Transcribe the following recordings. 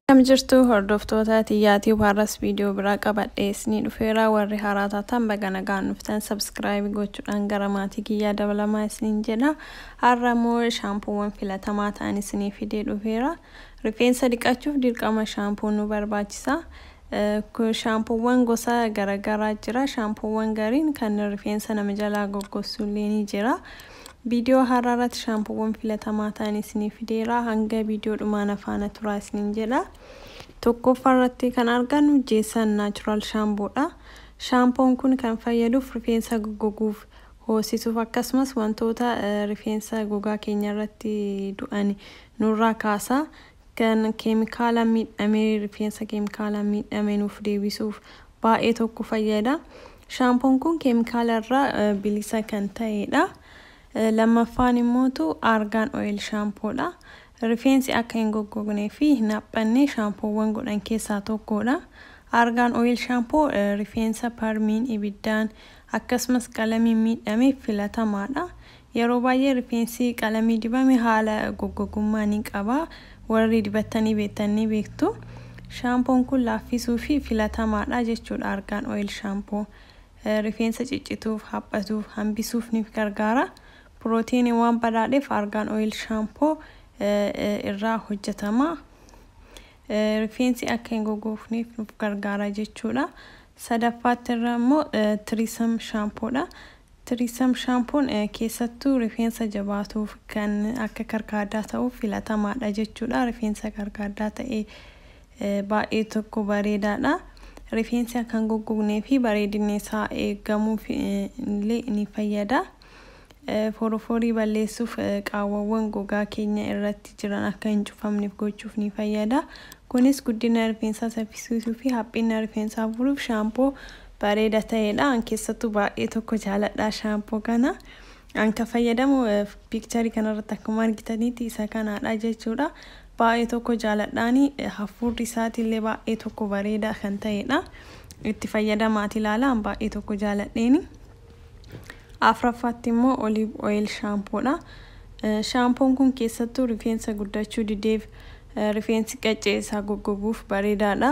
Kam jirtu hordoftoota tiyyaatii warras viidiyoo biraa qabadhee isinii dhufeera warri haaraa taatan baga nagaan dhuftan sabskraayibii gochuudhaan gara maatii kiyyaa dabalamaa isiniin jedha har'a immoo shaampuuwwan filatamaa ta'an isinii fidee dhufeera rifeensa dhiqachuuf dirqama shaampuu nu barbaachisa shaampuuwwan gosa garagaraa jira shaampuuwwan gariin kan rifeensa nama jalaa goggossu illee ni jira Viidiyoo har'aa irratti shaampuuwwan filatamaa ta'an isinii fideera. Hanga viidiyoo dhumaa na faana turaa isiniin jedha. Tokkoffaa irratti kan argannu Jeesaan Naachuraal Shaampoodha. Shaampoon kun kan fayyaduuf rifeensa goggoguuf, hoosisuuf akkasumas wantoota rifeensa gogaa keenya irratti du'an nurraa kaasa. Kan keemikaalaan miidhame rifeensa keemikaalaan miidhame nuuf deebisuuf baay'ee tokko fayyada. Shaampoon kun keemikaala irraa bilisa kan ta'edha. Lammaffaan immootu argaan oil shaampoodha. Rifeensi akka hin goggognee fi hin haphanne shaampoowwan godhan keessaa tokkodha. Argaan oil shaampoo rifeensa parmiin, ibiddaan akkasumas qalamiin miidhameef filatamaadha. Yeroo baay'ee rifeensi qalamii dibame haala goggogummaa ni qaba. Warri dibattanii beektan ni beektu. Shaampoon kun laaffisuu fi filatamaadha jechuudha Argaan Oil Shampoo. Rifeensa ciccituuf, haphatuuf, hambisuuf ni gargaara. Pirootiiniin waan badhaadheef Argaan Oil Shampoo irraa hojjetama. Rifeensi akka hin goggoofneef nuuf gargaara jechuudha. Sadaffaatti irra immoo Tiriisam Shaampoodha. Trism Shaampuun keessattuu rifeensa jabaatuuf kan akka karkaaddaa ta'uuf filatamaadha jechuudha. Rifeensa karkaaddaa ta'e baay'ee tokko bareedaadha. Rifeensi akka hin goggognee fi bareedinni isaa eegamuuf illee ni fayyada. Foroforii balleessuuf qaawwawwan gogaa keenya irratti jiran akka hin cufamneef gochuuf ni fayyada. Kunis guddina rifeensaa saffisiisuu fi haphina rifeensaa furuuf shaampoo bareeda ta'edha an keessattuu baay'ee tokko jaaladha shaampoo kana an kan fayyadamu piikcharii kanarratti akkuma argitanitti isa kanaadha jechuudha baay'ee tokko jaaladhaani hafuurri isaatiillee baay'ee tokko bareeda kan ta'edha itti fayyadamaati ilaala an baay'ee tokko jaaladheeni afraffaatti immoo oliiv ooyil shaampoodha shaampoon kun keessattuu rifeensa guddachuu dideef rifeensi qaccee isaa goggoguuf bareedaadha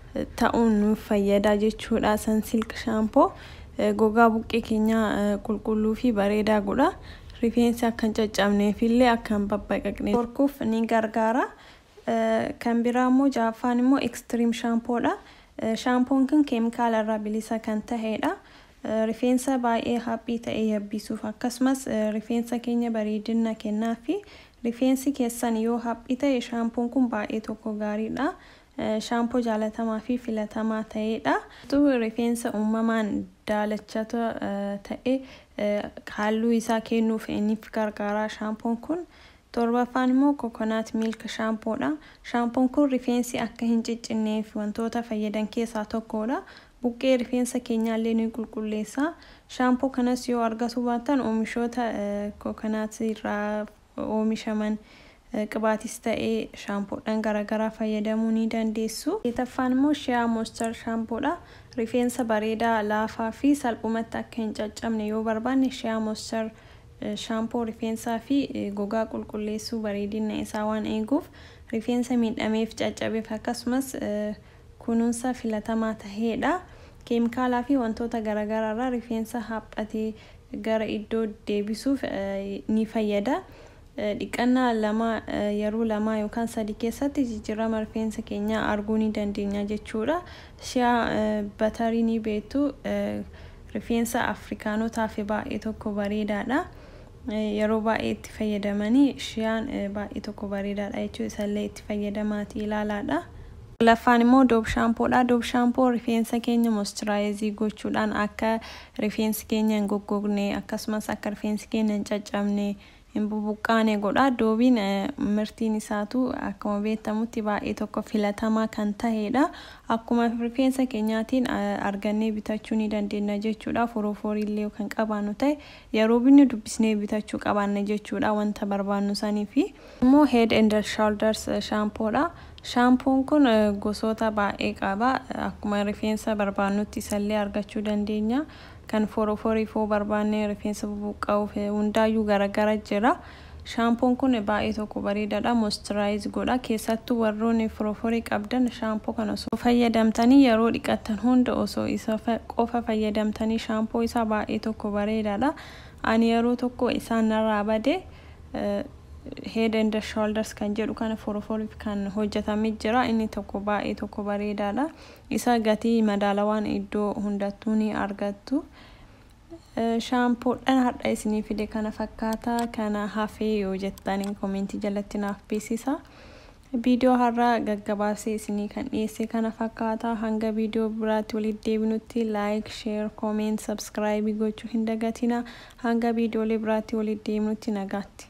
ta'uun nuuf fayyada jechuudha. Sansilk shaampoo gogaa buqqee keenyaa qulqulluu fi bareedaa godha. Rifeensi akka hin caccabnee fi illee akka hin babbaqaqne dhorkuuf ni gargaara. Kan biraa immoo ja'affaan immoo ekstiriim shaampoodha. Shaampoon kun keemikaala irraa bilisa kan ta'edha. Rifeensa baay'ee haphii ta'e yabbisuuf akkasumas rifeensa keenya bareedina kennaa fi rifeensi keessan yoo haphii ta'e shaampoon kun baay'ee tokko gaariidha. shaampoo jaalatamaa fi filatamaa ta'ee dha. Utuu rifeensa uumamaan daalachata ta'e halluu isaa keennuuf nif gargaara. Shaampoon kun 7ffaan immoo coconut milk shampoo dha. Shaampoon kun rifeensi akka hin ciccinneef wantoota fayyadan keessaa tokko dha. Buqqee rifeensa keenyaa illee ni qulqulleessa. Shaampoo kanas yoo argatuu baattan oomishoota coconut irraa oomishaman qibaatis ta'e shaampoodhan garagaraa fayyadamuu ni dandeessu. Seetaffaan immoo Shea Moisture Shampoo dha. Rifeensa bareedaa, laafaa fi salphumatti akka hin caccabne yoo barbaanne Shea Moisture Shampoo rifeensaa fi gogaa qulqulleessuu bareedinna isaa waan eeguuf rifeensa miidhameef, caccabeef akkasumas kunuunsa filatamaa tahee dha. Keemikaalaa fi wantoota garagaraarraa rifeensa haphate gara iddoo deebisuuf ni fayyada. Dhiqannaa lama, yeroo lama yookaan sadii keessatti jijjiirrama rifeensa keenyaa arguu ni dandeenya jechuudha. Shea batarii ni beektu. Rifeensa Afrikaanotaaf baay'ee tokko bareedaadha. Yeroo baay'ee itti fayyadamanii shiyaan baay'ee tokko bareedaadha jechuudha. Isallee itti fayyadamaati ilaalaadha. Laffaan immoo Dove Shampoo dha. Dove Shampoo rifeensa keenya moisturize gochuudhaan akka Rifeensi keenya hin goggogne, akkasumas akka rifeensi keenya hin caccabne, hin bubuqqaane godha. Doobiin mirtiin isaatu akkuma beektamutti baay'ee tokko filatamaa kan taheedha. Akkuma rifeensa keenyaatiin argannee bitachuu ni dandeenna jechuudha. Forooforii illee yoo kan qabaannu tahe yeroo binnu dubbisnee bitachuu qabaanna jechuudha wanta barbaannu saniifi. Kun immoo Head and Shoulders Shampoo dha. Shaampoon kun gosoota baay'ee qaba. Akkuma rifeensa barbaannutti isa illee argachuu dandeenya. Kan foroforiif yoo barbaanne rifeensa bubuqqa'uuf hundaayyuu garagara jira. Shaampoon kun baay'ee tokko bareedaadha. Moisturize godha. Keessattuu warroonni foroforii qabdan shaampoo kana osoo fayyadamtanii yeroo dhiqattan hunda osoo isa qofa fayyadamtanii shaampoo isaa baay'ee tokko bareedaadha. Ani yeroo tokko isaan narraa bade. head and shoulders kan jedhu kana foroforiif kan hojjetame jira inni tokko baay'ee tokko bareedaadha isa gatii madaalawaan iddoo hundattuu ni argattu shaampoodhan hadha isinii fide kana fakkaata kana hafee yoo jettanii komentii jalatti naaf beeksisa Viidiyoo har'a gaggabaasee isinii kan dhiyeesse kana fakkaata. Hanga viidiyoo biraatti walitti deebinutti like, share, comment, subscribe gochuu hin dagatinaa. Hanga viidiyoolee biraatti walitti deebinutti nagaatti.